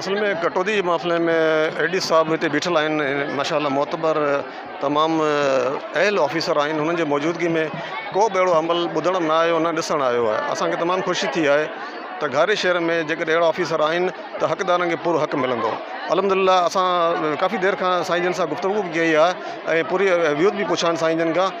اصل ۾ ڪٽوتي جي محفلن ۾ اي ڊي صاحب هتي بيٺل آهن ماشاء الله معتبر تمام اهل آفيسر آهن هنن جي موجودگي ۾ ڪو به اهڙو عمل ٻڌڻ ۾ نه آيو نه ڏسڻ آيو آهي اسانکي تمام خوشي ٿي آهي ته گهاري شهر ۾ جيڪڏهن اهڙا آفيسر آهن ته حقدارن کي پورو حق ملندو الحمدلله اسان ڪافي دير کان سائين جن سان گفتگو به ڪئي آهي ۽ پوري ويود به پڇيا آهن سائين جن کان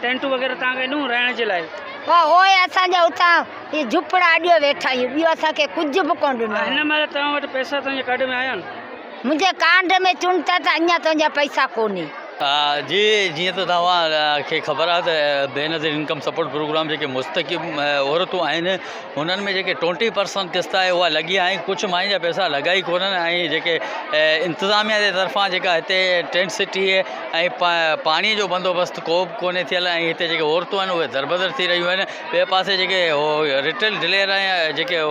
ٽينٽون وغيره تان ڪڍون رهڻ جي لاء. پر هوء اسان جا اتان هي جهپڙا اڏيو ويٺائين، ٻيو اسان کي ڪجهه به ڪونه ڏنو. هن مهل توهان وٽ پئسا تنهنجي ڪارڊ ۾ آيا آهن؟ منهنجي ڪارڊ ۾ چون ٿا ته اڃا تنهنجا پئسا ڪونهي. جي، جيئن ته توهان کي خبر آهي ته بينظير انڪم سپورٽ پروگرام جيڪي مستحڪم عورتون آهن، انهن ۾ جيڪي ٽوئنٽي پرسنٽ قسط آهي اها لڳي آهي ڪجهه ماڻهن جا پئسا لڳا ئي ڪونهن ۽ جيڪي انتظاميا جي طرفان جيڪا هتي ٽينٽ سٽي ۽ پاڻي جو بندوبست ڪو به ڪونهي ٿيل ۽ هتي جيڪي عورتون آهن اهي دربدر ٿي رهيون آهن ٻئي پاسي جيڪي رٽيل ڊلير ۽ جيڪي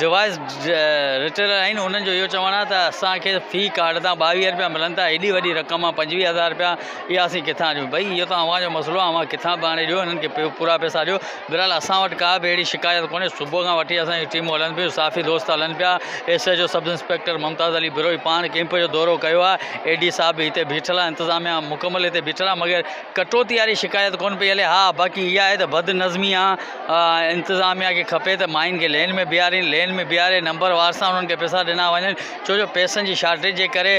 ڊوائس رٽيلر آهن انهن جو اهو چوڻ آهي ته اسانکي في ڪارڊ تان ٻاويهه رپيا ملن ٿا ايڏي وڏي رقم آهي پنجويهه هزار رپيا اها اسين ڪٿان ڏيون بئي اهو ته اوهان جو مسئلو اوهان ڪٿان به آڻي ڏيو انهن کي پورا پئسا ڏيو بھرحال اسان وٽ ڪا به اھڙي شڪايت ڪونھي، صبح کان وٺي اسان جون ٽيمون ھلن پيون، صحافي دوست ھلن پيا، S H O sub inspector Mumtaz Ali Brohi پاڻ ڪيمپ جو دورو ڪيو آ، اي ڊي صاحب به ھتي بيٺل آ، انتظاميا مڪمل ھتي بيٺل آ مگر ڪٽوتي واري شڪايت ڪون پئي ھلي، ھا باقي اھا آھي ته بد نظمي آ، انتظاميا کي کپي ته ماين کي لين ۾ بيھارين، لين ۾ بيھاري نمبر وار سان انھن کي پيسا ڏنا وڃن، ڇو جو پيسن جي شارٽيج جي ڪري.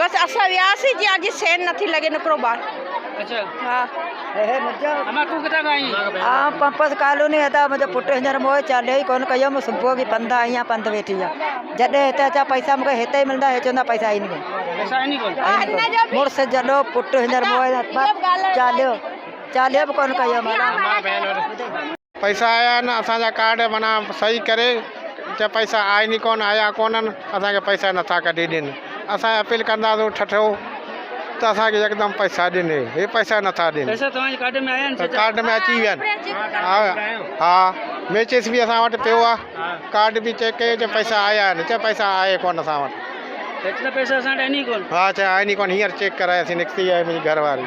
بس اسان وياسين جي آجي سين نٿي لڳي نڪرو ٻاهر اچا ها هي مجا اما تو ڪٿا کان آئي آ پمپس ڪالوني ادا مجا پٽ هنجر مو چالي ڪون ڪيو مو صبح جي پند آئي آ پند ويٺي آ جڏي هتي اچا پئسا مون هتي ملدا هي چوندا پئسا آئي ني پئسا آئي ني ڪون مرس جڏو پٽ هنجر مو چاليو چاليو ڪون ڪيو مالا پئسا آيا آهن اسان جا ڪارڊ معنيٰ صحيح ڪري جا پئسا آهن ئي ڪونه آيا ڪونهن اسان کي پئسا نٿا ڪڍي ڏين اسان هي اپيل ڪنداسون ٺٺو ته اسان کي يڪدم پئسا ڏين هي هي پئسا نٿا ڏين پئسا توهان جي ڪارڊ ۾ آيا آهن چچا ڪارڊ ۾ اچي ويا آهن ها ها ميچس به اسان وٽ پيو آهي ڪارڊ به چيڪ ڪيو چا پئسا آيا آهن چا پئسا آهي ڪونه اسان وٽ ايترا پئسا اسان وٽ آهن ئي ڪونه ها چا آهن ئي ڪونه هينئر چيڪ ڪراياسين نڪتي آهي منهنجي گهر واري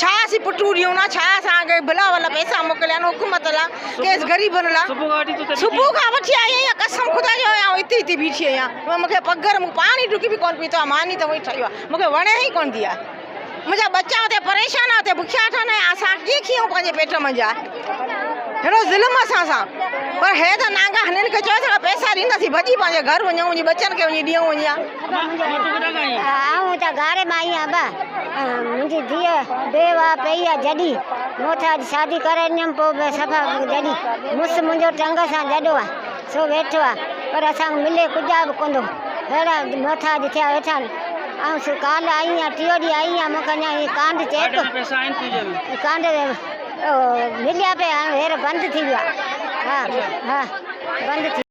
ڇا اسين پٽون ڏيون ها ڇا اسان کي بلا ولا پئسا موڪليا آهن حڪومت لا ڪيس غريبن لا صبح کان وٺي آئي آهيان قسم خدا جو آئي هتي هتي بيٺي آهيان مون مون کي پگهر پاڻي ڍڪي به ڪون پيتو آهي ماني ته وئي ٺهيو آهي مون کي وڻي ئي ڪون ٿي آهي منهنجا ٻچا اتي پريشان آهن اتي بکيا ٺهن آهن اسان ڪيئن کيئون پنهنجي پيٽ منجهه آهي هيڏو ظلم اسان سان پر هي ته نانگا هنن کي چيو ٿا پئسا ڏينداسين ڀڄي پنهنجي گهر وڃون وڃي ٻچن کي وڃي ڏيون وڃي آئون ته گاري مان آهيان ابا منهنجي ڌيء بيوه پئي آ جڏي مون ٿا اڄ شادي ڪرائينديم پو به صفا جڏي مس منهنجو ٽنگ سان جڏو آ سو ويٺو آ پر اسان ملي ڪجا به ڪندو هيڙا مون ٿا اڄ ٿيا ويٺان آئون سو ڪال آئي آهيان ٽيو ڏي آئي آهيان مون کي اڃا هي ڪانڊ چيڪ ڪانڊ مليا پي هير بند ٿي ويا ها ها بند ٿي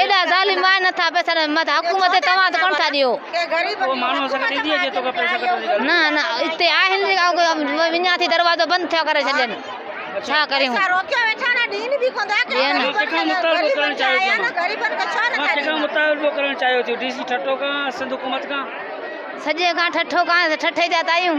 ايڏا ظالم آهن نه ٿا پئسا ڏين مت حڪومت تي توهان ڪونه ٿا ڏيو نه نه اتي آهن وڃان ٿي دروازو بند ٿيا ڪري ڇڏين ڇا ڪريون سڄي کان ٺٺو کان ٺٺي جات آهيون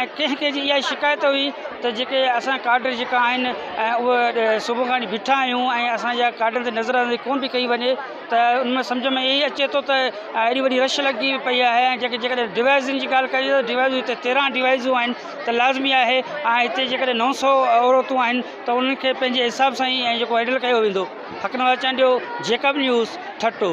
۽ ڪنهن ڪنهن جي اها ئي شڪايت هئي ته جيڪي اسان ڪاڊر جيڪا آهن اهي صبح کان وٺي بيٺا آهيون ۽ اسان جا ڪاڊر تي نظر اندازي ڪونه پئي ڪئي وڃي ته ان ۾ سمجهه ۾ اهي ئي اچي ٿو ته ايڏي وڏي رش لڳي پئي آهي ۽ جيڪي جيڪڏهن ڊوائزن جي ڳالهه ڪجي ته ڊوائزون هتي تيرهن ڊوائزون آهن ته لازمي آهي ۽ هتي جيڪڏهن نو سو عورتون آهن ته انهن کي پنهنجي حساب سان ئي ۽ جيڪو هيڊل ڪيو ويندو حق نواز چانڊيو جيڪب نيوز ٺٽو.